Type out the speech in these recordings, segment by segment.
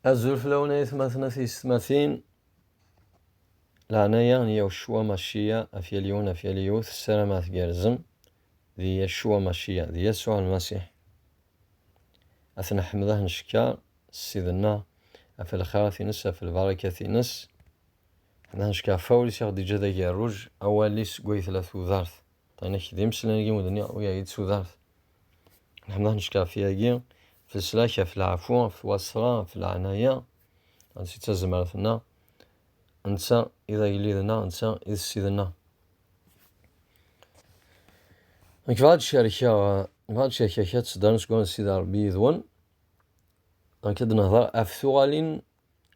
Azul fell-awen ay atmaten a tiyessetmatin. Leɛnaya n Yahucua Maciya af yal yiwen af yal yiwet ssarameɣ tgerrzem d Yahucua Maciya d Yasuɛ Lmasiḥ. A t-neḥmed a t-ncekker s Ssid-nneɣ af lxirat-ines af lbarakat-ines. Ḥmed a t-ncekker af wawel-is i aɣ-d-yeǧǧa d agerruj, awal-is seg way tella tudert. Ṭṭinek d imeslan-agi wen-d-nniɣ ur yaɣ-iyi-d tudert. Neḥmed necka ɣef yagi, ɣef leslak, ɣef leɛfu, ɣef wasra, ɣef leɛnaya, ansi d tazmert-nneɣ, netta i d agellid-nneɣ, netta i d ssid-nneɣ. Nekk bɣiɣ ad d-cerkeɣ, bɣiɣ ad d-cerkeɣ kra n tseddarin seg wansi d Rebbi yid-wen. Nekk ad d-nehder ɣef tuɣalin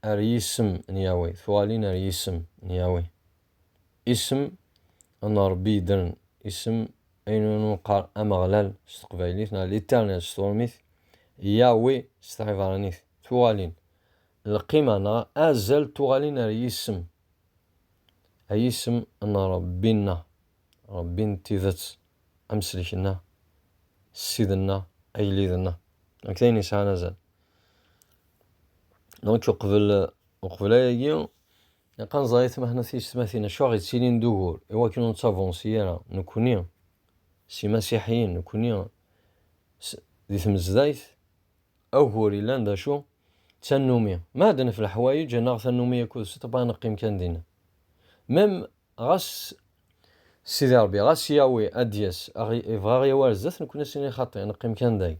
ar yisem n Yahweh, tuɣalin ar yisem n Yahweh. Isem n Ṛebbi yeddren, isem ayen umi neqqar Ameɣlal s teqbaylit neɣ L'Éternel s turmit, Yahweh s tɛibṛanit, tuɣalin, lqima neɣ azal n tuɣalin ar yisem, a yisem n Ṛebbi-nneɣ, Ṛebbi n tidet, Amsellek-nneɣ, Ssid-nneɣ, Agellid-nneɣ, d nekk d ayen yesɛan azal. Donc, uqbel, uqbel ayagi, ilaq ad nẓer i tmahna tiyesmatin, acu aɣ-yettilin d ugur, i wakken ur nettavansi ara, nekkni, s imasiḥiyen, nekkni, di tmezdayt, agur yellan d acu, d tannumi. Ma ad nef leḥwayeǧ, ad naɣ tannumi akud s ṭṭbɛa, ad neqqim kan dinna. Mem, ɣas Sidi Ṛebbi, ɣas Yahweh ad d-yas, aɣ, yebɣa aɣ-yawi ar zdat, nekkni ad s-nini xaṭi, ad neqqim kan day.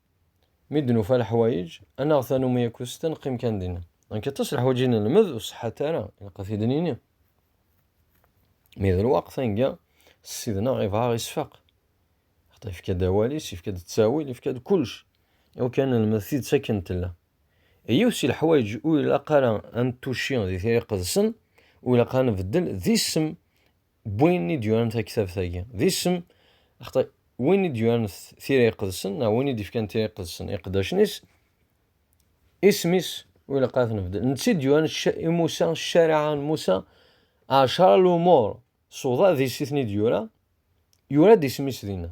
Mi d-nufa leḥwayeǧ, ad naɣ tanumi akked usta neqqim kan dinna. Nekk aṭas leḥwayeǧ i nelmed ur ṣeḥḥat ara, ilaq ad t-id-nini. Mi d lweqt, anga Ssid-neɣ ibɣa isfaq. Xaṭi yefka-d awal-is, yefka-d ttawil, yefka-d kullec iwakken ad nelmed tidet akken tella. I yiwet si leḥwayeǧ ur ilaq ara ad nettucci di tira iqedsen, ur ilaq ara ad nbeddel d isem n win i d-yuran taktabt-agi. D isem, axaṭer win i d-yuran tira iqedsen neɣ win i d-ifkan tira iqedsen, iqeddacen-is, isem-is ur ilaq ara t-nbeddel. Netta i d-yuran i Musa, ccariɛa n Musa, ɛecra lumuṛ, ṣuḍa d isiten i d-yura, yura-d isem-is dinna.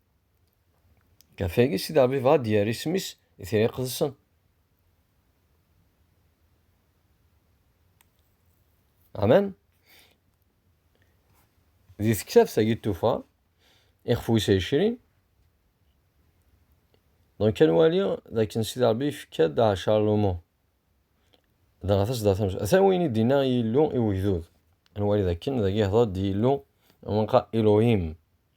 Ɣef wagi, Sidi Ṛebbi yebɣa ad d-yerr isem-is i tira iqedsen. Amen. Di tektabt-agi n tufa, ixef wis ɛecrin, donc ad nwali d akken Sidi Ṛebbi yefka-d ɛecra lumuṛ. Dɣa tasedda tams, ata win i d-inna i Yillu i ugdud. Ad nwali d akken dagi ihdeṛ-d Yillu, Elohim.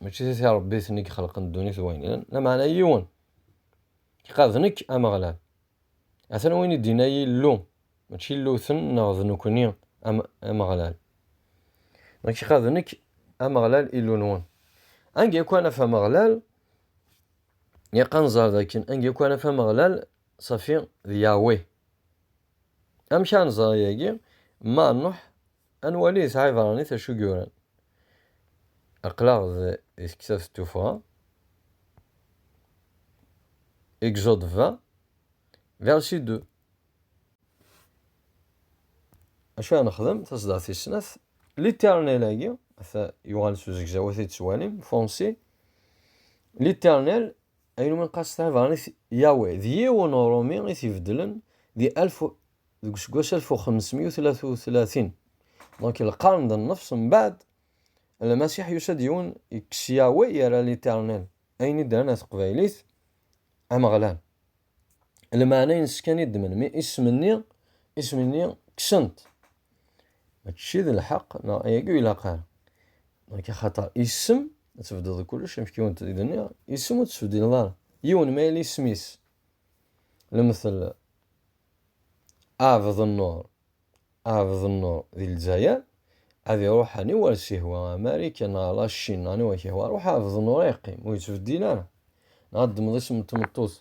mačči d ti Ṛebbi-ten i ixelqen ddunit d wayen ilan, lameɛna yiwen, iqal d nekk Ameɣlal. Atan wayen i d-yenna Yillu, mačči Illu-ten neɣ d nekkni Ameɣlal. Nekk iqal d nekk Ameɣlal Illu-nwen. Anga akk ad naf Ameɣlal, ilaq ad nẓer d akken anga akk ad naf Ameɣlal safi d Yahweh. Amek ara nẓer ayagi? Ma Nuḥ Ad nwali yesɛa ibeṛṛanit acu yuran. Aql-aɣ di tektabt n tuffɣa, Exode 20, verset 2. Acu ara nexdem? Taṣeddart tis snat, L'Éternel-agi, ata yuɣal s uzegzaw a t-id-tettwalim, Fonsi, L'Éternel, ayen umi nqas tesɛa ibeṛṛanit Yahweh, d yiwen uṛumi i t-ibeddlen di alef deg useggas alef u xemsemya u tlata u tlatin, donc lqern d nnefṣ mbeɛd, Lmasiḥ yusa-d yiwen yekkes Yahweh yerra l'Eternel, ayen iddren ɣer teqbaylit, Ameɣlal. Lmeɛna-ines kan i ddmen, mi isem-nni, isem-nni kksen-t. Mačči d lḥeq, neɣ ayagi ur ilaq ara. Donc axaṭer isem, ad tbeddeḍ kullec, amek yiwen i d-nniɣ, isem ur t-ttbeddileḍ ara. Yiwen ma yella isem-is, lemtel, Aɛbed Nnur, Aɛbed Nnur di Lezzayer ad iruḥ aniwa ara s-ihwa, Amarikan neɣ La Cin neɣ aniwa k-ihwa, ruḥ Aɛbed Nnur ad yeqqim, ur yettbeddil ara. Neɣ ad d-tmeḍ isem n tmeṭṭut,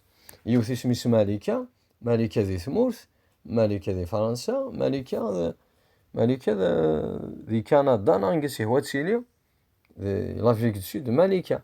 yiwet isem-is Malika, Malika di tmurt, Malika di Fransa, Malika d Malika d di Kanada neɣ anga i s-ihwa ad tili, di Lafrique du Sud, Malika.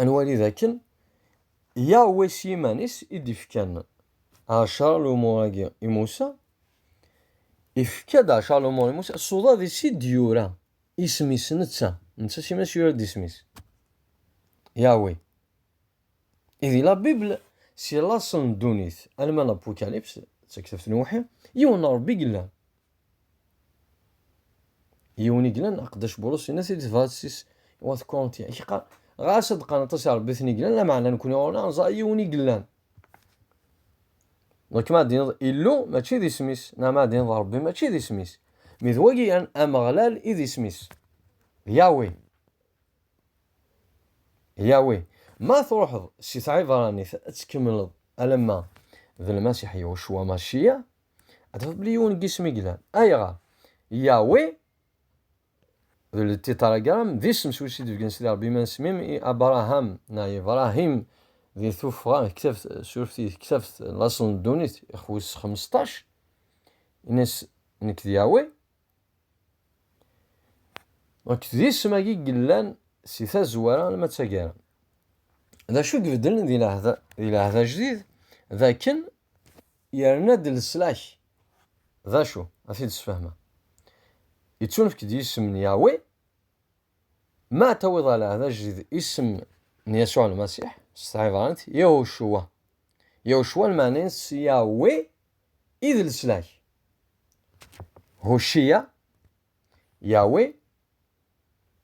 ad nwali dakken Yahweh s yiman-is i d-ifkan ɛecṛa lumuṛ-agi i Musa, ifka-d ɛecṛa lumuṛ i Musa s uḍad-is i d-yura isem-is netta, netta s yiman-is yura-d isem-is, Yahweh. I di la Bible, si laṣel n ddunit alma L'Apocalypse, d taktabt n uwḥi, yiwen n Ṛebbi i yellan, Yiwen i glan aqeddac Bulus yenna-t-id tebɣa tis i wat Kurintya i k-qqar ɣas ad qqaren aṭas i Rebbi ten i glan lameɛna nekkni ɣur neɣ neẓra yiwen i glan donc ma d-tiniḍ Illu mačči d isem-is neɣ ma d-tiniḍ Rebbi mačči d isem-is mi d wagi an Ameɣlal i d isem-is Yahweh Yahweh ma truḥeḍ si tɛibranit ad tkemmleḍ alamma d Lmasiḥ Yahshua Mashiach ad tafeḍ bli yiwen n yisem i yellan ayɣer yawi d ltitaragram d isem s wis i d-bgen sidi rebbi ma nesmim i abraham na ibrahim di tuffɣa ktabt surfti ktabt laṣel n ddunit ixwis xmesṭac ines nekk d yawi Donc, d isem-agi yellan si tazwara alma d tagara. D acu i ibeddlen di lɛehda, di lɛehda ajdid? D akken yerna-d leslak. D acu? Ad t-id-sfehmeɣ. Yettunefk-d yisem n Yahweh, ma tawiḍ ɣer lɛehda ajdid isem n Yasuɛ Lmasiḥ, s tɛibranit, Yahushua. Yahushua lmeɛna-ines Yahweh I d leslak? Hucciya, Yahweh,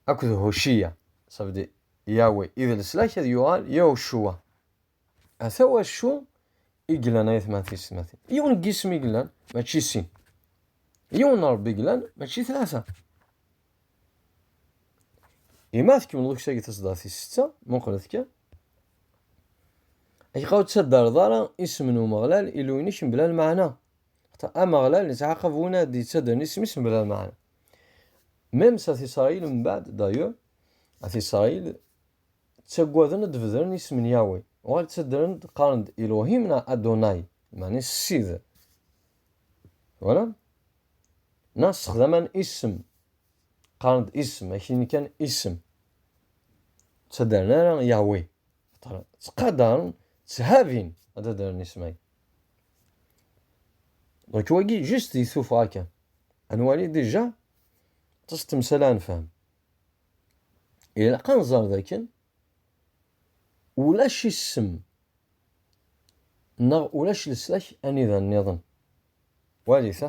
akked Hucciya, ça veut dire Yahweh, i d leslak ad yuɣal Yahuccuwa. Ata wacu i glan ayetma tisetmatin. Yiwen n yisem i glan, mačči sin. Yiwen n Rebbi glan, mačči tlata. Ima tkemmleḍ ukessagi taseddart-is setta, muqlet kan. Ayɣer ur ttaddaleḍ ara isem n Umeɣlal, Illu-inek, mebla lmeɛna? Ameɣlal ittɛaqab win ara d-yettaddalen isem-is mebla lmeɛna. Même s At Isṛayil mbeɛd, d'ailleurs, At Isṛayil ttaggaden ad d-bedren isem n Yahweh, uɣal ttaddalen-d qqaren-d Elohim neɣ Adonai, meɛna Ssid. Twalam? Neɣ ssexdamen isem Qqaren-d isem, akini kan isem. Ttadaren ara Yahweh. Ttqadaren, tthabin ad adren isem-agi. Donc wagi, juste di tuffɣa kan. Ad nwali déjà, ṭṭes temsala ad nefhem. Ilaq ad nẓer dakken ulac isem neɣ ulac leslak anida-nniḍen. Walit-a.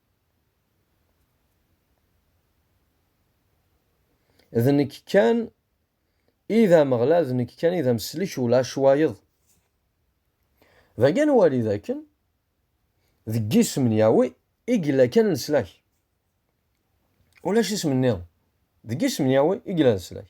d nekk kan i d ameɣlal d nekk kan i d ameslik ulac wayeḍ dagan wali dakken deg yisem n Yawi i yella kan leslak ulac isem nniḍen deg yisem n Yawi i yella leslak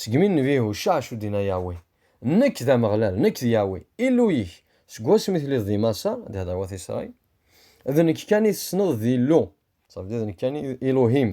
Segmi nnbihu ccaɛc ur d-inna Yahweh, Nekk d Ameɣlal, nekk d Yahweh, Illu-ik, seg wasmi telliḍ di Maṣer, d ihder wat Isṛail, d nekk kan i tessneḍ d Illu, ça veut dire d nekk kan i Elohim.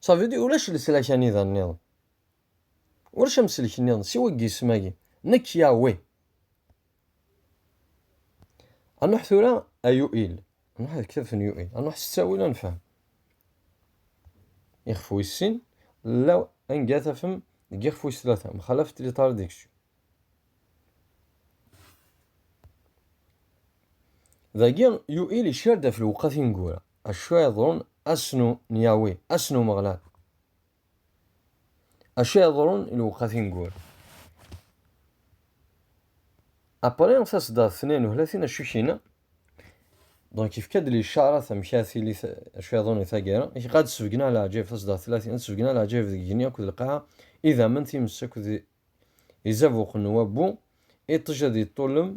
Savi d ulac leslak anida nniḍen. Ulac amselk nniḍen siwa deg yisem-agi, Nekk Yahweh. A Nuḥ tura a Yu'il, a Nuḥ deg kitabt n Yu'il, a Nuḥ s ttawil ad nefhem. Ixef wis sin, la anga tafem deg ixef wis tlata, mxalafet li taridiksyu. Dagi, Yuil icar-d ɣef lewqat i tineggura, acu ara yeḍrun ass-nu n Yahweh, ass n Umeɣlal. Acu ara yeḍrun i lewqat i tineggura? Apre, taseddart-nni n uhlatin acu kina, donc ifka-d licarat amek ara tili acu ara yeḍrun i taggara, i ɣad sbegneɣ leɛǧayeb, taseddart-nni ad sbegneɣ leɛǧayeb deg igenni akked lqaɛa, idammen, times akked Izabuq n wabbu, iṭij ad iṭṭullem,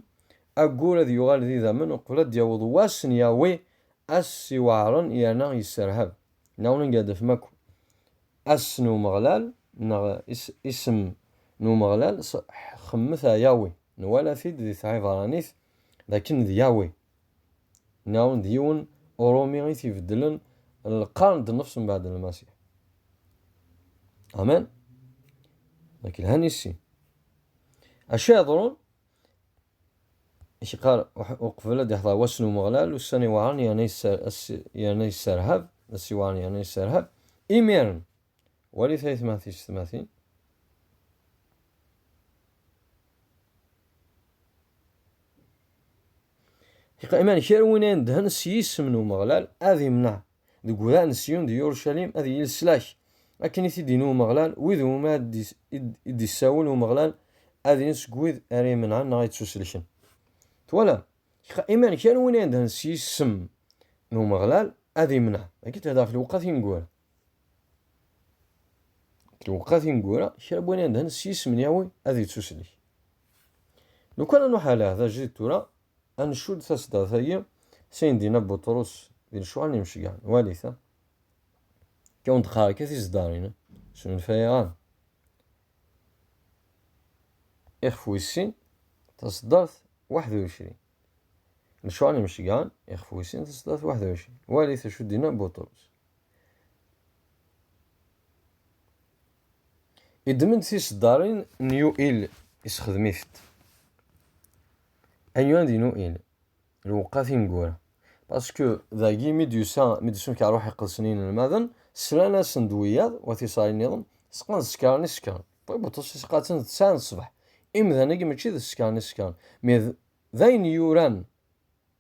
aggur ad yuɣal d idammen uqbel ad d-yaweḍ wass n Yahweh, ass iweɛren yerna yesserhab. Neɣ ur nga d-afem akk ass n Umeɣlal neɣ isem n Umeɣlal, xemmet a Yahweh. Nwala-t-id di tɛibṛanit d akken d Yahweh. Nɛun d yiwen Urumi i t-ibeddlen n lqern d nnefs mbeɛd Lmasiḥ. Amen? Dak lhan i sin. Acu iḍrun? I k-iqqar uqbel ad iḥḍer wass n Umeɣlal, ussan iweɛren yerna yesserhab, ass iweɛren yerna yesserhab, imiren, walit ay tmatis tmatin, Iman kra win ay nedhen s yisem n Umeɣlal ad imneɛ deg udaɛ n Siyun d Yurucalim ad yili leslak, akken i t-id-yenna Umeɣlal, wid iwumi ara d-isawel Umeɣlal ad ilin seg wid ara imenɛen neɣ yettuselken. Twalam? Iman kra win ay nedhen s yisem n Umeɣlal ad imneɛ, dagi tebda ɣef lewqat ineggura. Tuqqa tineggura, kra n win yendhen s yisem n Yahweh ad yettuslek. Lukan ad nuḥal aḥdaǧi d tura, ad ncudd taseddat-agi s ayen d-yenna Buṭrus di Lecuha n Yimceggɛen, walit-a. Akka ur d-qqar akka tiseddarin, snulfayeɣ-am. Ixef wis sin, taseddart 21. Lecuha n Yimceggɛen, ixef wis sin, taseddart 21. Walit acu d-yenna Buṭrus. Yeddem-d tiseddarin n UL yessexdem-it-d. Anyuan d UL lewqat ineggura. Pasku dagi mi d-yusa mi d-isunka ṛuḥ iqedsen i yinelmaden, slan-asen-d wiyaḍ wa tiṣarin niḍen, seqqan d ssekṛen i sekkṛen. Ṭṭbib d ṭṭes iseqqa-ten d ttɛa n ṣṣbeḥ. Imdanen-agi mačči d ssekṛen i sekkṛen, mi d ayen yuran.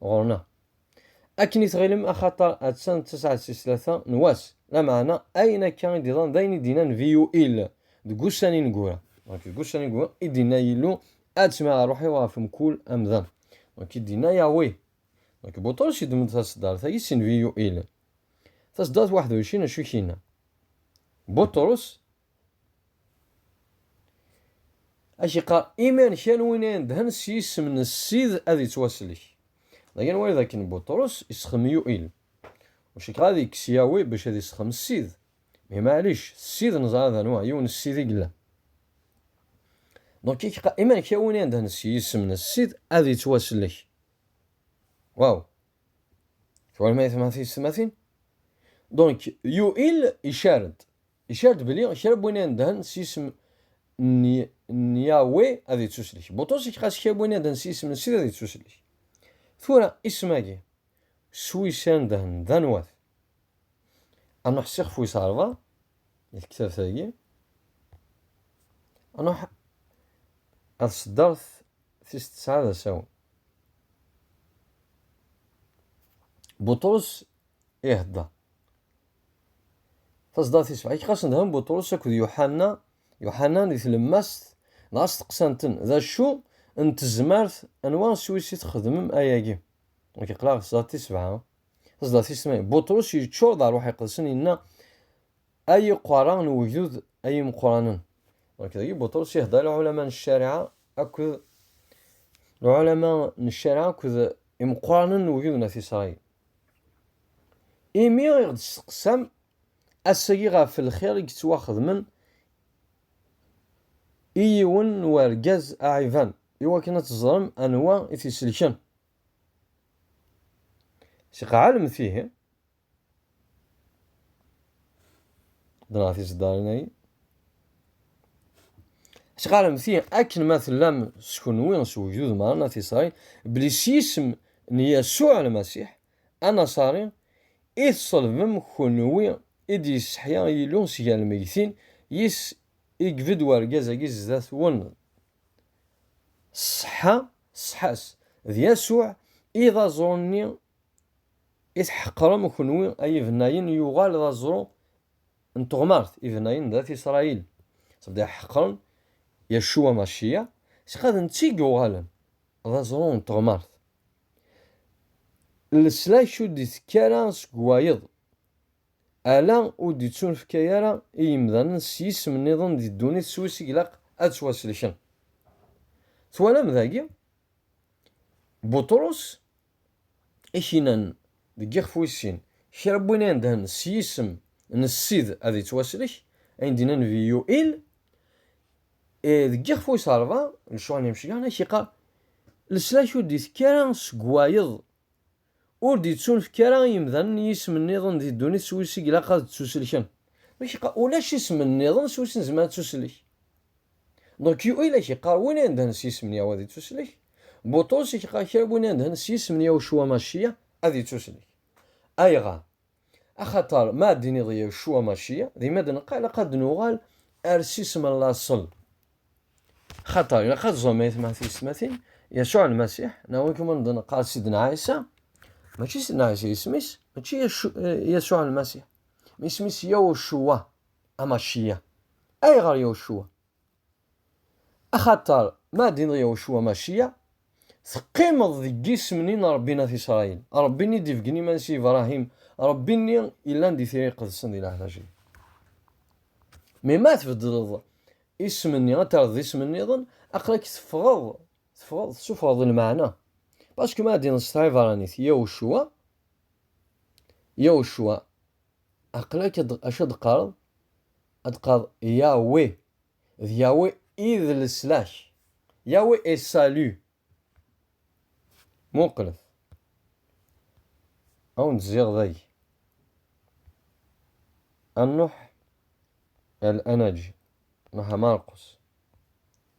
ɣur-neɣ. Akken i tɣilem axaṭer atta d tasaɛet tis tlata n wass, lameɛna ayen akka i d-iḍan d ayen i d-inna Nnbi UIl deg wussan ineggura. Deg wussan ineggura i d-inna Yillu, ad ttmaɣ ṛṛuḥ-iw ɣef mkul amdan. I d-inna Yahweh. Buṭrus yeddem-d taseddart-agi si Nnbi UIl. Taseddart waḥed u ɛecrin acu i k-inna? Buṭrus Ad k-iqqar, iman kan win ay indhen s yisem n Ssid ad yettwaslek. Dayen wayeḍ akken Buṭrus isexdem Yuil. Ur cikkeɣ ad yekkes Yawi bac ad isexdem Ssid. Mais maɛlic, Ssid neẓra d anwa, yiwen n Ssid i yella. Donc ik-qa, iman kan win ay indhen s yisem n Ssid ad yettwaslek. Waw! Twalam ayetma tiysetmatin? Donc Yuil icar-d, Icar-d belli kra n win inedhen s yisem n Yahweh ad ittuslek. Buṭrus iqas kra n win inedhen s yisem n Ssid ad ittuslek. Tura, isem-agi s wis inedhen d anwa-t? Ad nruḥ s ixef wis ṛebɛa i tektabt-agi. Ad nruḥ ar tseddart tis tesɛa d asawen. Buṭrus ihedder. Taẓdart tis sebɛa, kqasen dhan Buṭrus akked Yuḥanna, Yuḥanna di tlemmast, dɣa steqsan-ten, d acu n tezmert anwa s wis i txedmem ayagi? Nekk aql-aɣ taẓdart tis sebɛa, taẓdart tis tmanya, Buṭrus yeččur d ṛṛuḥ iqedsen yenna, ay iqerra n ugdud ay imeqranen. Nekk dagi Buṭrus ihedder lɛulama n ccariɛa akked lɛulama n ccariɛa akked imeqranen n ugdud n At Isṛayil. Imi i ɣ-d-testeqsam ass-agi ɣef lxir i yettwaxedmen i yiwen n urgaz aɛiban, i wakken ad teẓrem anwa i t-iselken. Seg ɛelmet ihi, ddreɣ tiseddarin-agi. Ttxaremt-i akken ma tellam s kenwi s wegdud meṛṛa n At Isṛayil belli s yisem n Yasuɛ Lmasiḥ anaṣari i tṣelbem kenwi i d-yesseḥya Yillu si gar lmeggtin, yes i ibedd wergaz-agi zdat-wen. Ṣṣeḥḥa ṣṣeḥḥa-s, d Yasuɛ i d aẓru-nni i tḥeqqrem kenwi ay ibennayen yuɣal d aẓru n teɣmert i bnayen d at Isṛayil, ttbdiɣ ḥeqren Yaccu Amaciya, sɣa d netta i yuɣalen d aẓru n teɣmert. Leslak ur d-itekki ara seg wayeḍ, ala ur d-ittunefka ara i yimdanen s yisem nniḍen di ddunit s wis i ilaq ad ttwaselken. Twalam dagi? Buṭrus ikinan deg yixef wis sin, kra n win inedhen s yisem n Ssid ad ittwaslek, ayen d-yenna Nnbi Yuil, deg yixef wis rebɛa, Lcuɛa n Yimecliḥen, ad k-iqqar, Leslak ur d-itekki ara seg wayeḍ, ur d-ittunefk ara i yimdanen yisem nniḍen di ddunit s wis i ilaq ad ttuselken. Ad k-iqqar, Ulac isem nniḍen s wis nezmer ad ttuselk. Donc yu i la k-yeqqar win ay indhen s yisem n Yahwa ad ittuslek, Buṭrus i k-yeqqar kra win ay indhen s yisem n Yahucua Maciya ad ittuslek. Ayɣer? Axaṭer ma ad d-tiniḍ Yahucua Maciya, deg ma d-neqqa ilaq ad d-nuɣal ar s isem n laṣel. Axaṭer ilaq ad teẓrem ayetma tiyesmatin, Yacuɛ Lmasiḥ, neɣ win kuman d-neqqar Sidna Ɛisa, mačči Sidna Ɛisa yisem-is, mačči Yacuɛ Lmasiḥ, isem-is Yahucua, Amaciya. Ayɣer Yawcuwa? Axaṭer ma d-inneḍ Yawcuwa Maciya, teqqimeḍ deg yisem-nni n Ṛebbi n At Isṛayil, Ṛebbi-nni d-ibeggen iman-is i Ibṛahim, Ṛebbi-nni yellan di Tira Iqedsen di leɛtac-ik. Mi ma tbeddleḍ isem-nni, ad terreḍ d isem nniḍen, aql-ak teffɣeḍ, teffɣeḍ, tessufɣeḍ lmeɛna. Paske ma d-inneḍ s tɛibṛanit Yawcuwa, Yawcuwa, Aql-ak acu ad d-teqqareḍ? Ad d-teqqareḍ Yahweh, d Yahweh i d leslak. Yahweh est salut. Muqlet. Ad wen-d-zziɣ dagi. Ad nruḥ ar Anaǧ, nruḥ ar Marqus.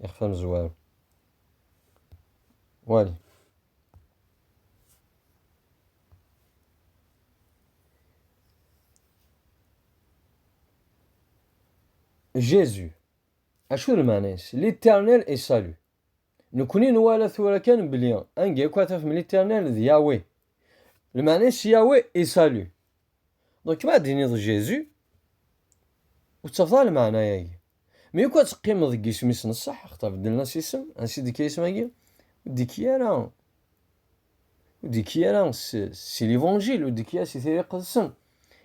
ixef amezwaru wali Jésus acu d lmeɛna-is l'éternel et salut nekni nwala tura kan belli anga akk ataf m l'éternel d Yahweh Lmeɛna-is Yahweh et salut. Donc ma d-tiniḍ Jésus, ur tettafeḍ ara lmeɛna-agi. Mi yakk ad teqqimeḍ deg isem-is n ṣṣeḥ, axaṭer beddlen-as isem, ansi d-ikka isem-agi? Ur d-ikki ara ur d-ikki ara si l'évangile, ur d-ikki ara si tira iqedsen.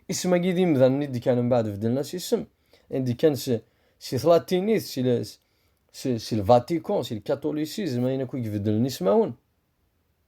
Isem-agi d imdanen i d-kkan mbeɛd beddlen-as isem, i d-kkan si, si tlatinit, si, si, si le Vatican, si le catholicisme, ayen akk i ibeddlen ismawen.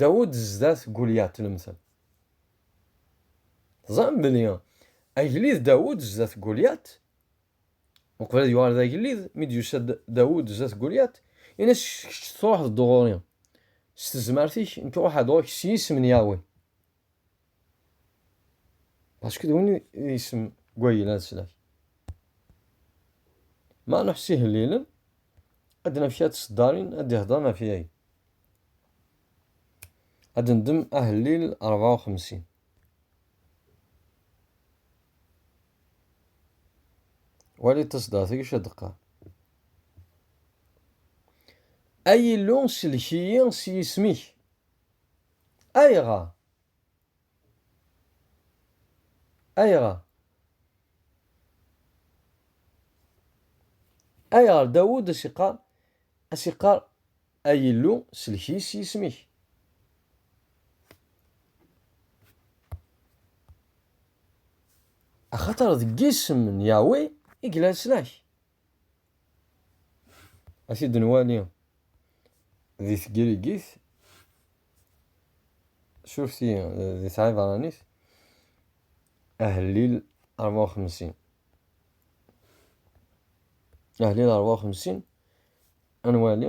Dawed zdat Gulyat nemten. Teẓram belli agellid Dawed zdat Gulyat, uqbel ad yuɣal d agellid, mi d-yusa Dawed zdat Gulyat, in-as kečč truḥeḍ-d ɣur-i s tezmert-ik, nekk ruḥeɣ-d ɣur-k s yisem n Yahweh. Parce que win isem gwayel ad slak. Ma nuḥ si hellilen, ad naf kra tseddarin ad d-ihdren ɣef yagi. Ad ndem ahellil 54. Wali taseddart-agi ad d-qqar. Ay Illu sellek-iyi s yisem-ik. Ayɣer? Ayɣer? Ayɣer Dawud a s-iqqar a s-iqqar ay Illu sellek-iyi s yisem-ik? Axaṭer deg yisem n Yahweh i yella leslak. A t-id-nwali di tgirigit, surti di tɛibranit, ahellil ṛebɛa u xemsin. Ahellil ṛebɛa u xemsin ad nwali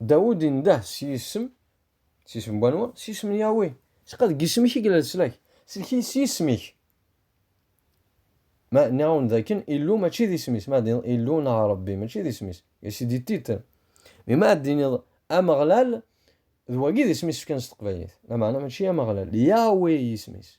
Dawed indeh s yisem, s yisem n wanwa? S yisem n Yahweh. Cqa deg yisem-ik i yella leslak. Sellek-iyi s yisem-ik. Ma nniɣ-awen-d dakken Illu mačči d isem-is, ma d-tiniḍ Illu neɣ Rebbi mačči d isem-is, et c'est des titres. Mais ma d-tiniḍ Ameɣlal, d wagi d isem-is fkan s teqbaylit. Lameɛna mačči Ameɣlal, Yahweh i yisem-is.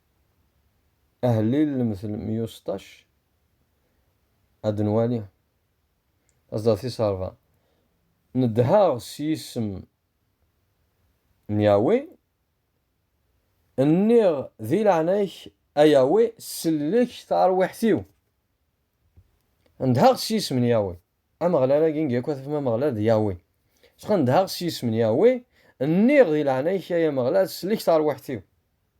Ahellil lemtel meyya u seṭṭac, ad d-nwali taẓda tis ṛebɛa, Nedheɣ s yisem n Yahweh, nniɣ, Di leɛnaya-k, a Yahweh, sellek tarwiḥt-iw. Nedheɣ s yisem n Yahweh. Ameɣlal agi ngi akk ad tafem Ameɣlal d Yahweh. Sɣa nedheɣ s yisem n Yahweh, nniɣ, Di leɛnaya-k, ay Ameɣlal, sellek tarwiḥt-iw.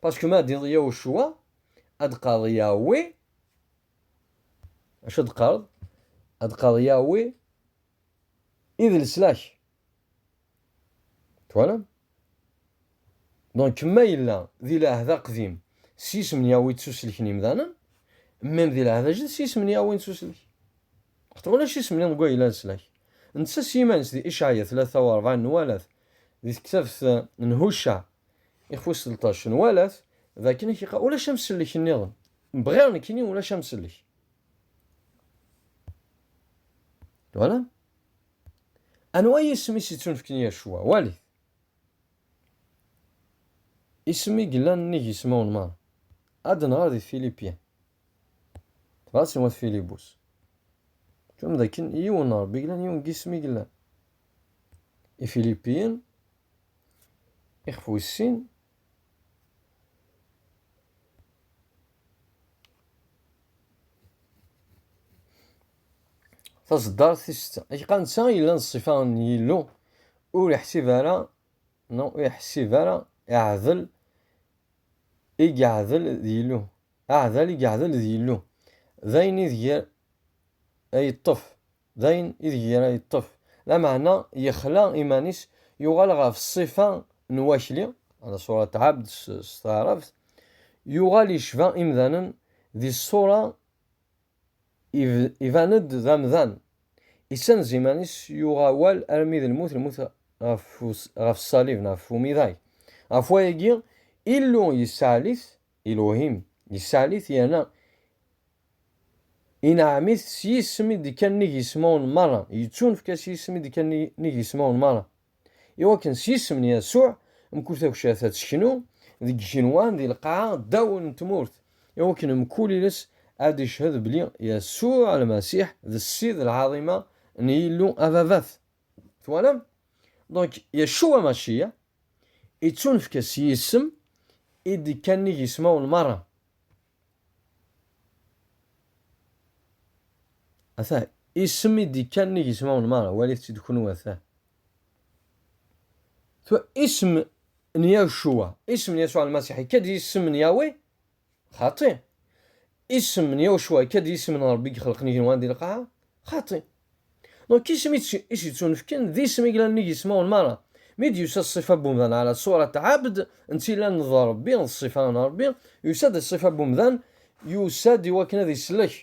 Parce que ma dit Yahushua, ad qad Yahweh, acu ad qad? Ad qad Yahweh, id leslak. Twalam? Donc, ma yella di l'ahd aqdim, s yisem n Yahweh ttuselken imdanen, même di l'ahd ajdid, s yisem n Yahweh nettuselk. Xaṭer ulac isem niḍen gwa yella leslak. Netta s yiman-is di Ishaya 43 nwalat, di tektabt n Hucca Ixef uselṭac n walat d akken i k-iqqar ulac amsellek nniḍen. Bɣiɣ nekkini ulac amsellek. Twala? Anwa yisem i s-ittunefken yir cwa? Walit. Isem i yellan nnig yismawen merra. Ad nɣer di tfilipin. Tebɣa ad tenwa tfilibus. Tum d akken yiwen n Rebbi yellan yiwen n yisem i yellan. Ifilipiyen Ixef wis sin. Tazeddart tis setta. Acqa netta yellan ṣṣifa n Yillu ur iḥsib ara neɣ ur iḥsib ara iɛdel i yeɛdel d Yillu. Aɛdal i yeɛdel d Yillu. D ayen ideg ay yeṭṭef D ayen ideg ara yeṭṭef lameɛna, yexla iman-is, yuɣal ɣef ṣṣifa n wakli, ala ṣurat abd s taɛrabt, yuɣal yecba imdanen, di ṣṣura iban-d d amdan, issenz iman-is, yuɣ awal armi d lmut, lmut ɣef ṣṣalib neɣ ɣef umidag. Ɣef wayagi, Illu yessaɛlit, Elohim, yessaɛlit yerna Ineɛɛem-it s yisem i d-ikka nnig yismawen merra, yettunefk-as yisem i d-ikka nnig yismawen merra, iwakken s yisem n Yasuɛ, mkul takcert ad teknu deg yigenwan di lqaɛa ddaw n tmurt, iwakken mkul iles ad d-iched belli Yasuɛ Lmasiḥ d Ssid lɛaḍima n Yillu Ababat. Twalam? Donc, Yaccuɛ Amaciyaɛ ittunefk-as yisem i d-ikka nnig yismawen merra. Atah, isem i d-ikkan nnig ismawen meṛṛa, walit-tt-id kunwi atah. Tura, isem n Yacuwa, isem n Yasuɛ Lmasiḥ, ikka-d isem n Yawe? Xaṭi. Isem n Yacuwa ikka-d isem n Ṛebbi i ixelqen igenwan di lqaɛa? Xaṭi. Donc isem i s-yettunefken d isem i yellan nnig yismawen merra. Mi d-yusa ṣṣifa n umdan ɛla ṣurat ɛabd, n tillan d Ṛebbi, d ṣṣifa n Ṛebbi, yusa-d i ṣṣifa n umdan, yusa-d i wakken ad islek.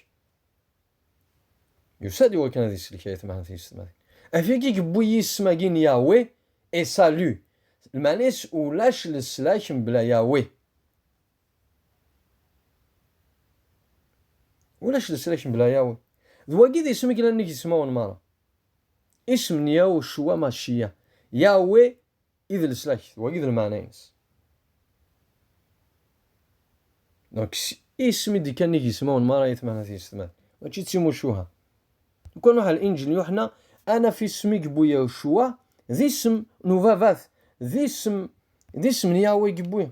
Yusa-d i wakken ad islek ay atmaten tiyessetmatin. Afeg i yewwi yisem-agi n Yahweh, est salut. Lmeɛna-is ulac leslak mebla Yahweh. Ulac leslak mebla Yahweh. D wagi d isem i yellan nnig ismawen merra. Isem n Yahucua Maciya. Yahweh i d leslak, d wagi d lmeɛna-ines. Donc, isem i d-ikkan nnig ismawen merra i tmehna tisetman. Mačči d timucuha. Nekk nuḥ al Injil n Yuḥna, anaf isem i yewwi Yahucua d isem n ubabat, d isem, d isem n Yahweh i yewwi.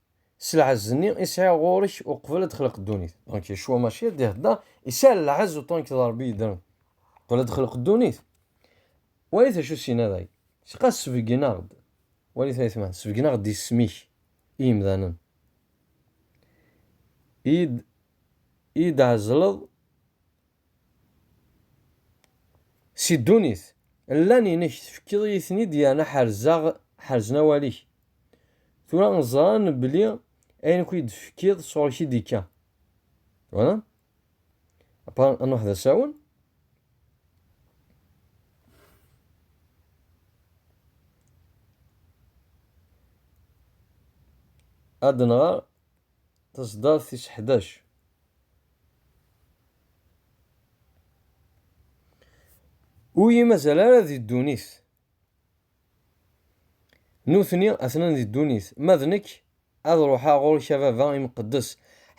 s lɛezz-nni i sɛiɣ ɣur-k uqbel ad d-xleq ddunit. Donc Yecwa Maciya ad d-ihedder, isɛa lɛezz uṭṭan ked Rebbi yeddren qbel ad d-xleq ddunit. Walit acu s-yenna day, Siqa sbeggen-aɣ-d, walit ayetma, sbeggen-aɣ-d isem-ik i yemdanen, i yi-d-tɛezzleḍ Si ddunit, llan inek, tefkiḍ-iyi-ten-id yerna ḥerzeɣ, ḥerzen awal-ik. Tura ẓran belli ayen akk i d-tefkiḍ sɣur-k i d-ikka. Voilà. Après, ad nruḥ d asawen. Ad nɣer Tazdart tis ḥdac. Ur yi-mazal ara di ddunit. Nutni atnan di ddunit, ma d nekk ad ruḥeɣ ɣur-k a Baba imqeddes,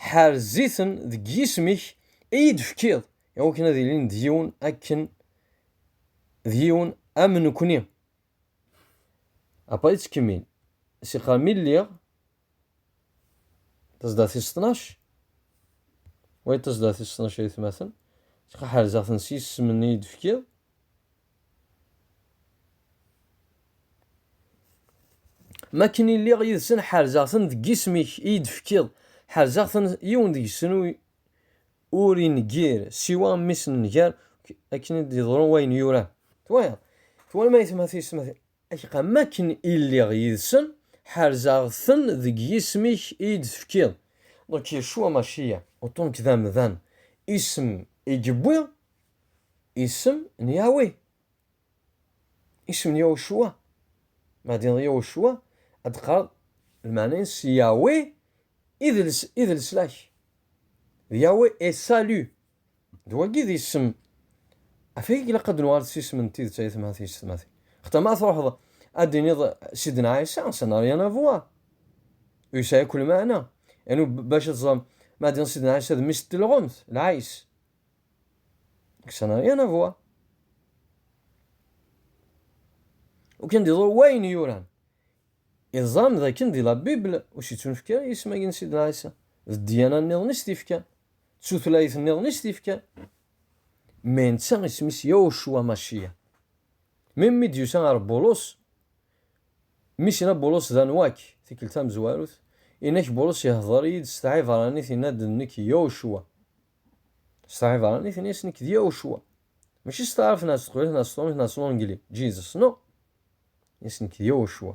ḥerz-iten deg yisem-ik i yi-d-tefkiḍ, iwakken ad ilin d yiwen akken d yiwen am nekni. Apa yettkemmil, siqar mi lliɣ Tezda tis ṭnac, way tezda tis ṭnac ay atmaten, ttqaḥerzeɣ-ten s yisem-nni i d-tefkiḍ. Ma akken i lliɣ yid-sen ḥerzeɣ-ten deg yisem-ik i yi-d-tefkiḍ, ḥerzeɣ-ten yiwen deg-sen ur ineggir siwa mmi-s n nnger, akken i d-yeḍru wayen yuran. Twalaḍ? Twalam aytmaten-is ma Ak, am wakken i lliɣ yid-sen, ḥerzeɣ-ten deg yisem-ik i yi-d-tefkiḍ. Donc Yacua Maciya, uṭṭun-k d amdan, isem i yewwi isem n Yahweh. Isem n Yahucua. Ma d-tiniḍ Yahucua, ad d-teqqareḍ lmeɛna-ines Yahweh i d leslak. D Yahweh est salut. D wagi d isem af i ilaq ad nuɣal s isem n tidet ay atmaten yessetmaten. Xta ma truḥeḍ ad d-tiniḍ Sidna Ɛisa, ça n'a rien à voir. Ur yesɛi akk lmeɛna. Anu bac ad teẓrem ma ad d-tiniḍ Sidna Ɛisa d mmi-s n telɣemt, lɛis. Nek ça n'a rien à voir. Ur kan d-iḍur wayen yuran. I teẓram d akken di la Bible ur s-yettunefk ara yisem-agi n Sidna Ɛisa. D ddiyana-nniḍen i s-t-ifkan. d tutlayt nniḍen i s-t-ifkan. Mmi netta isem-is Yawcua Maciya. Mi mmi d-yusa ɣer Bulus, mmi-s yenna Bulus d anwa-k, tikkelt tamezwarut, yenna-k Bulus ihder-iyi-d s tɛibranit yenna-d d nekk Yawcua. S tɛibranit yenna-yas nekk d Yawcua. Mačči s taɛrabt neɣ s teqbaylit neɣ s trumt neɣ s lungli, Jesus, no. Yes nekk d Yawcua.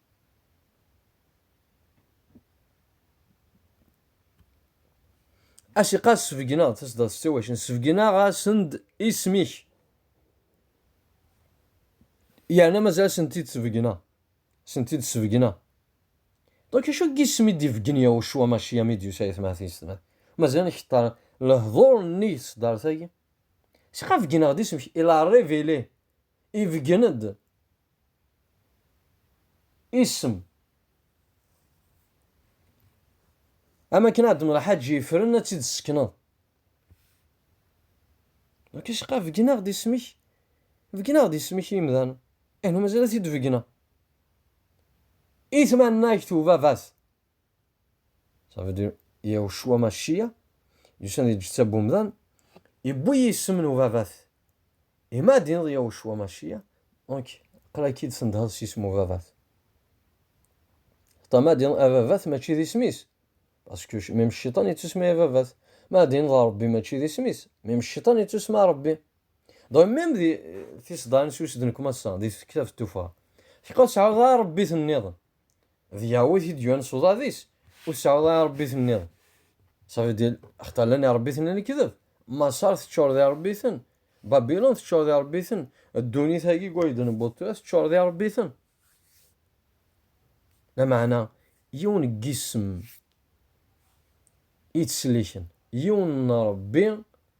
Asiqa sbegneɣ-d tasdaḍt s tiwacin, sbegneɣ-asen-d isem-ik. Yerna mazal asen-t-id sbegneɣ, asen-t-id sbegneɣ. Donc acu n yisem i d-ibeggen Yahucua Maciya mi d-yusa i tmatisna? Mazal nkeṭṭer lehdur-nni s tdart-agi. Asiqa begneɣ-d isem-ik, il a révélé, ibeggen-d. Isem. Am akken ad d-nraḥ ad yefren ad tt-id-ssekneḍ. Nekk isqa begneɣ-d isem-ik. Begneɣ-d isem-ik i yimdanen. Anu mazal ad t-id-begneɣ. I tmanna-k tubabat. Ça veut dire, Yahushua Mashiach, yusan di lǧetta n umdan, iwwi yisem n ubabat. Et ma d-yenneḍ Yahushua Mashiach, donc, qlaki-d tendheḍ s yisem ubabat. Xaṭa ma d-yenneḍ ababat mačči d isem-is. Parce que même cciṭan yettusma ababat. Ma d-yenneḍ Rebbi mačči d isem-is. Même cciṭan yettusma Rebbi. Donc même di tiseḍarin s usden kem ass-a, di tektabt tuffɣa. Tiqas sɛiɣ d Rebbi-ten-nniḍen. D Yahweh i t-id-yuan s uḍad-is, ur tesɛuḍ ara iṛebbiten nniḍen. Ça veut dire, xaṭer llan iṛebbiten n lekdeb. Maṣer teččur d iṛebbiten, Babilun teččur d iṛebbiten, ddunit-agi deg wayed newweḍ tura teččur d iṛebbiten. Lameɛna, yiwen n yisem i ttselliken, yiwen n Ṛebbi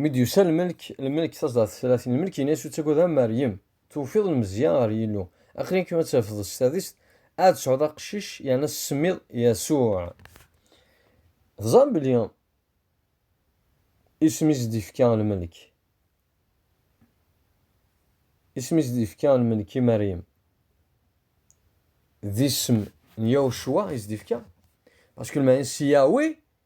Mi d-yusa lmelk, lmelk taẓdart tlatin, lmelk yenna-as ur ttagad a Meryem, tewfiḍ lmezya ɣer Yillu, aql-ik ad tafeḍ s tadist ad tesɛuḍ aqcic yerna tessemmiḍ Yasuɛ. Teẓram belli isem i s-d-yefka lmelk, isem i s-d-yefka lmelk i Meryem, d isem n Yahucua i s-d-yefka, parce que lmaɛna si Yahweh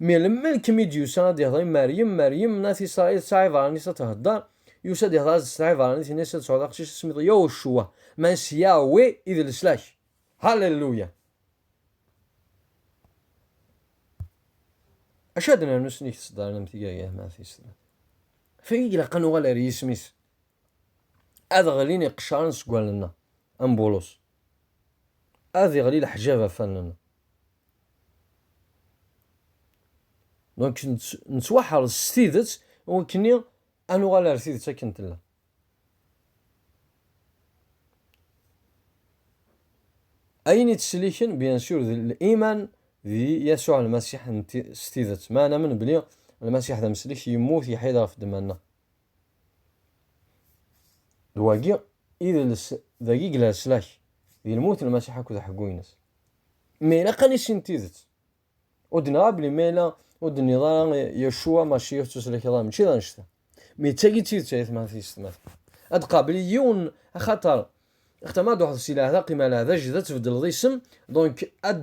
Melmi kem i d-yusa ad ihḍer i Meryem, Meryem n At Isṛail tesɛa iḍarren-is ad thedder, yusa ad ihḍer as-d tesɛa iḍarren-is yenna-as ad tesɛuḍ aqcic tesmiḍ Yahushuwa, man s Yahweh i d leslak. Hallelujah! Acu ad nernu s nnig tseddarin am tigi ay Ahmed At Isṛail? Fagi i ilaq ad nuɣal ar yisem-is. Ad ɣlin iqeccaren seg wallen-nneɣ, am Bulus. Ad iɣli leḥjab ɣef wallen-nneɣ. Donc, nettwaḥrez s tidet wakkeni ad nuɣal ar tidet akken tella. Ayen ittselliken, bien sûr, d liman d Yasuɛ Lmasiḥ s tidet. Ma namen bli Lmasiḥ d ameslek, yemmut, yeḥya-d ɣef ddemma-nneɣ. D wagi i d les, dagi yella leslak, di lmut n Lmasiḥ akked uḥeggu-ines. Ma ilaq ad nissin tidet. Ur d-neɣ belli ma yella ur d-nniḍ ara Yacua Maciix ttwaslakeḍ ara, mačči d annect-a. Mi d tagi d tidet ay atmaten tiyessetmaten. Ad d-qabel yiwen axaṭer axaṭer ma ad d-truḥeḍ si leɛda qima leɛda jda tbeddleḍ isem, donc ad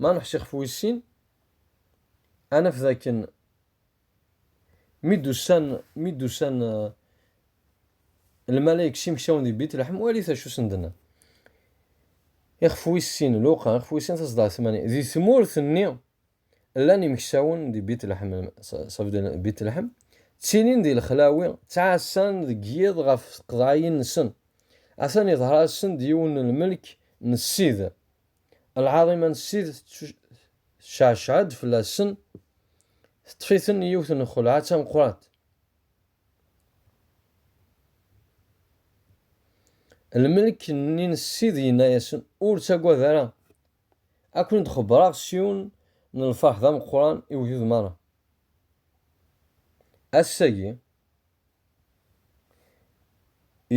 Ma neḥci ɣef wis sin, ad naf dakken mi d-usan, mi d-usan lmalayek s imeksawen di Bitleḥm, walit acu i sen-d-nnan. Ixef wis sin, Luqa, ixef wis sin tazeḍɛa tmanya, di tmurt-nni Llan imeksawen di Bitleḥm, ça veut dire Bitleḥm, ttilin di lexlawi, ttɛassan deg yiḍ ɣef tqeḍɛiyin-nsen. Atan iḍher-asen-d yiwen n lmelk n Ssid. Lɛaḍima n Ssid tecceɛceɛ-d fell-asen, teṭṭef-iten yiwet n lxelɛa d tameqqrant. Lmelk-nni n Ssid yenna-yasen, Ur ttagad ara, Ad ken-id-xebbṛeɣ s yiwen n lfeṛḥ d ameqqran i wegdud meṛṛa. Ass-agi,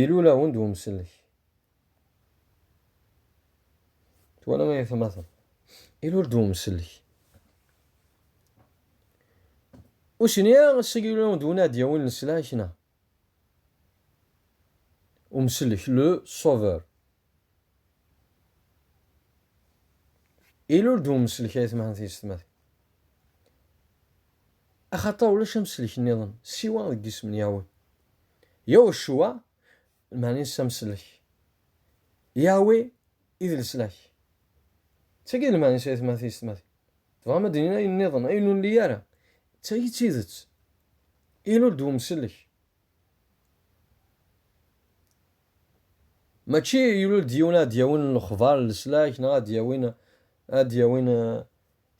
ilul-awen-d wemsellek. Twala ayetma-ten. Ilul-d wemsellek. Ur s-nniɣ ass-agi ilul-awen-d win ara d-yawin leslak, neɣ. Umselek, le sauveur. Ilul-d umselek ay tmaha tiyessetmatin. Axaṭer ulac amselek nniḍen siwa deg yisem n Yahweh. Yahushuwa, lmeɛna-nnes amselek. Yahweh i d leslak. D tagi i lmeɛna-nnes ay tmaha tiyessetmatin. Tebɣam ad d-tinim ayen nniḍen, ayen ur nelli ara? D tagi d tidet. Ilul-d umsellek. Mačči ilul-d yiwen ad d-yawin lexbar n leslak neɣ ad d-yawin ad d-yawin eh,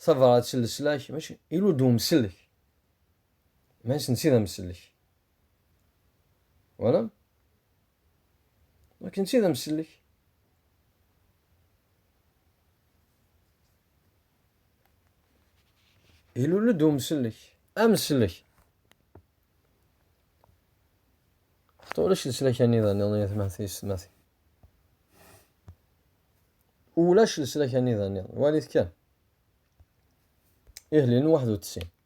tabrat n leslak, mačči ilul-d umsellek. Maɛis netta d amsellek. Walam? Nek netta d amsellek. Ilul-d umsellek, amsellek. Xaṭi ulac leslak-nni dani i tmatin. Ulac leslak-nni dani, walit kan. Ihlil n waḥed u tesɛin.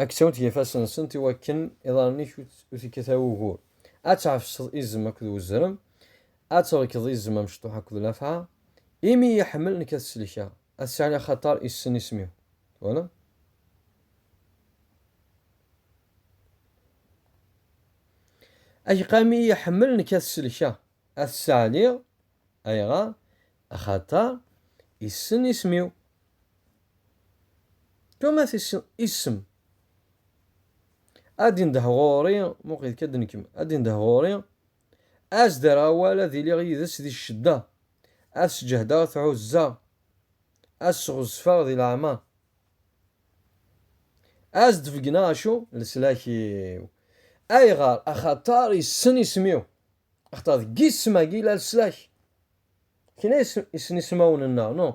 Ad k-ttawint yifassen-nsent i wakken iḍarren-ik ur t-ikkat ara wugur. Ad tɛefseḍ izem akked wezrem, ad trekdeḍ izem amecṭuḥ akked lafɛa, imi iyi-iḥemmel nekk ad t-sellkeɣ, ad t-sɛin axaṭer issen isem-iw. Twalaḍ? Ageqa imi iyi-iḥemmel nekk ad t-sellkeɣ, ad t-sseɛliɣ, Ayɣer? Axaṭer issen isem-iw. Thomas issen isem. Ad indeh ɣur-i, muqil kan d nekk, ad indeh ɣur-i, ad s-d-rreɣ awal, ad iliɣ yid-s di ccedda, ad s-ǧehdeɣ, ad t-ɛuzzeɣ, ad s-sɣezfeɣ di leɛmer, ad s-d-beggneɣ acu? Leslak-iw. Ayɣer? Axaṭer issen isem-iw. Axaṭer deg yisem-agi i la leslak. Kra isem ismawen-nneɣ, no?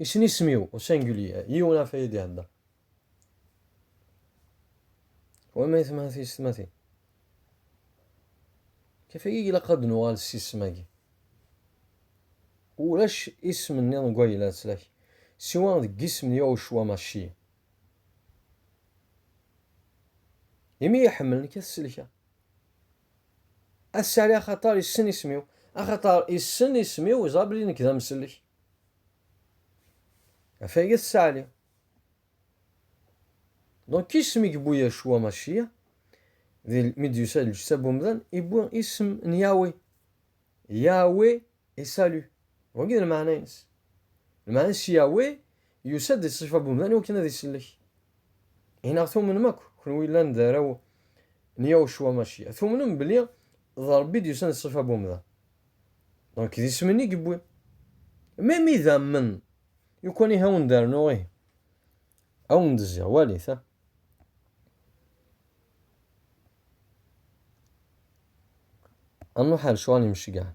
Isem isem-iw, au singulier, yiwen ɣef ay d-ihedder. Wama i temhati s tmatin. Kif ay ilaq ad nuɣal s isem-agi? Ulac isem-nniḍen deg wayla leslak, siwa deg yisem n Yahucwa Maci. Imi iḥemmel nekk ad t-selkeɣ. A Sali axaṭer yessen isem-iw. Axaṭer yessen isem-iw, yeẓra belli nekk d amsellek. Afayet Sali. Donc isem i yewwi Yacua Maciya, mi d-yusa lǧetta n umdan, yewwi isem n Yahweh. Yahweh e salut. Wagi d lmeɛna-ines. Lmeɛna-ines Yahweh yusa-d di ṣṣifa n umdan iwakken ad isellek. I neɣ tumnem akk, kunwi yellan d arraw n Yahucua Maciya, tumnem belli d Rebbi i d-yusan di ṣṣifa n umdan? Donc d isem-nni i yewwi. Ma mi d amen, lukan ihi a wen-d-rnuɣ ihi, a wen-d-zziɣ, walit ha. Annuḥal ccɣel imceggɛen.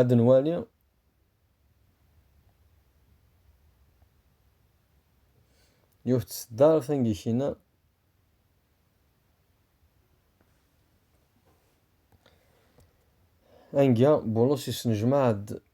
Ad nwali yiwet tseddart angikina anga Bulus yesnejmaɛ-d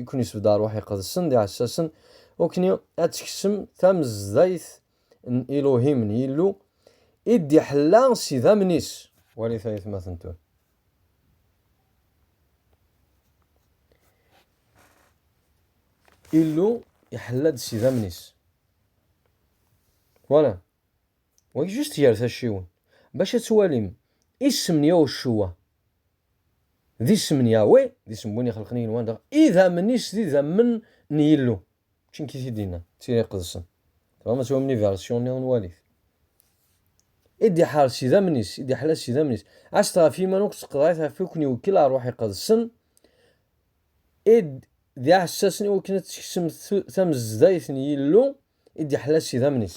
i ken-isbedd ṛṛuḥ iqedsen d iɛessasen, wakni ad teksem tamezdayt n Iluhim, n Yillu, i d-iḥella s idammen-is. Walit ayetmaten tura. Illu iḥella-d s idammen-is. Twala? Wagi just gar tacciwin. Bac ad twalim isem n Yahuccuwa. D isem n Yahweh, d isem n win ixelqen igenwan, dɣa idammen-is d idammen n Yillu. Mačči nekk i t-id-yenna, d tira iqedsen. Tebɣam ad twamnem iversion-nniḍen, walit. I d-iḥar s idammen-is, i d-iḥla s idammen-is. Ɛasset ɣef yiman akk d tqeḍɛit ɣef i ken-iwekkil ṛṛuḥ iqedsen, i d iɛessasen i wakken ad teksem tamezdayt n Yillu, i d-iḥla s idammen-is.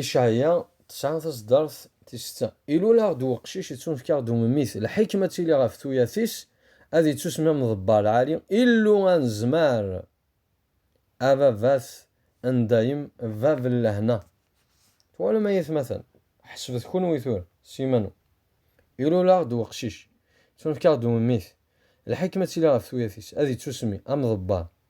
Icaɛya tesɛa taseddart tis setta. Ilul-aɣ-d weqcic ittunefk-aɣ-d umemmit, lḥikma ttili ɣef tuyat-is, ad ittusmi am ḍebba lɛali, Illu anezmar, ababat ndayem, bab n lehna. Twalem ay atmaten, ḥesbet kunwi tura s yiman-nwen. Ilul-aɣ-d weqcic, ittunefk-aɣ-d umemmit, lḥikma ttili ɣef tuyat-is, ad ittusmi am ḍebba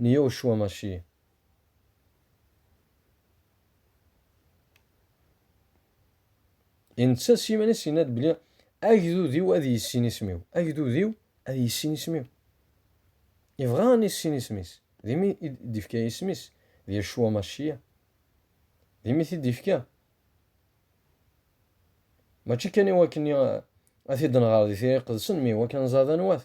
Niyoshua Mashiya. Inetta s yiman-is yenna-d belli agdud-iw ad yissin isem-iw. Agdud-iw ad yissin isem-iw. Yebɣa ad nissin isem-is. D imi i d-ifka isem-is d Yacua Maciya. D imi i t-id-ifka. Mačči kan i wakken ad t-id-nɣer di tira iqedsen, mi iwakken ad nẓer d anwa-t.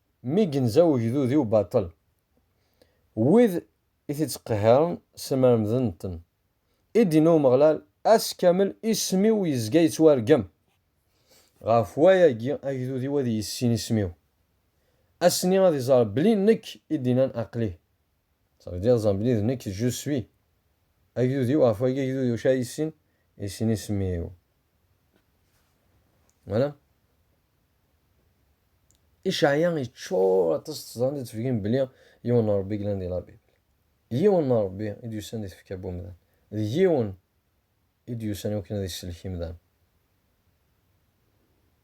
mi genza ugdud-iw baṭel. Wid i t-ittqehhiren ssemremden-ten. I d-yenna Umeɣlal, Ass kamel isem-iw yezga yettwargem. Ɣef wayagi agdud-iw ad yissin isem-iw. Ass-nni ad iẓer belli nekk i d-innan aql-i. Ça veut dire ẓer belli d nekk je suis. Agdud-iw, ɣef wayagi agdud-iw acu ara yissin? Yissin isem-iw. Voilà. Icaɛya yeččur aṭas teẓran ad tefgim belli yiwen n Ṛebbi glan di labib. Yiwen n Ṛebbi i d-yusan di tfekka n umdan. D yiwen i d-yusan i wakken ad isellek imdan.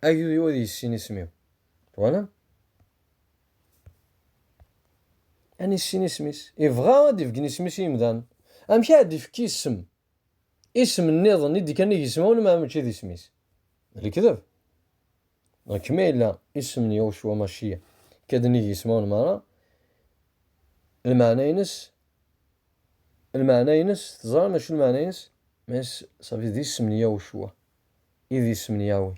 Agdud-iw ad yissin isem-iw. Twalam? Ad nissin isem-is. Ibɣa ad d-ifgen isem-is i imdan. Amek ara d-ifki isem Isem nniḍen i d-kan i yisem-wen meɛna mačči d isem-is. D lekdeb. Dɣa ma yella isem n Yahushu Amaciya ikka-d nnig yisem-wen meṛṛa, lmeɛna-ines, lmeɛna-ines teẓram acu lmeɛna-ines? Maca safi d isem n Yahushu i d isem n Yahweh.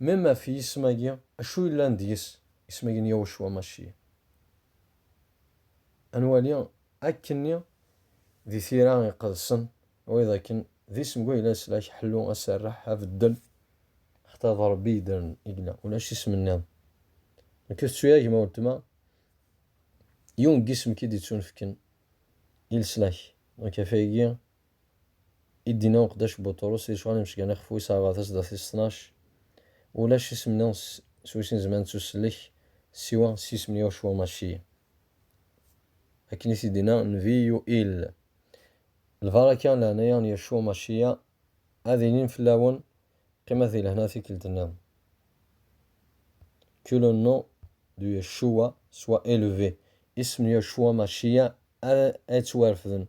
Même ɣef yisem-agi, acu yellan deg-s, isem-agi n Yahucua Maciya? Ad nwali akkenni di tira iqedsen, wayeḍ akken d isem gu yella leslak, ḥellu, aserreḥ, abeddel, xaṭer d Rebbi yeddren i yella, ulac isem-nniḍen. Nekk ur tettu-ya gma weltma, yiwen n yisem ki d-yettunefken i leslak, donc ɣef wayagi i d-yenna uqeddac Buṭrus i lecɣal imecgan ixef wis rrbat a sdat tis ṭnac, Ulac isem-nni s wis nezmer ad nettusellek siwa s yisem n Yahucua Maci. Akken i t-id-yenna nnbi Yuil. Lbaraka n leɛnaya n Yahucua Maciya ad ilin fell-awen, qqimet di lehna tikkelt-nniḍen. Que le nom de Yeshua soit élevé. Isem n Yahucua Maciya ara yettwarefden.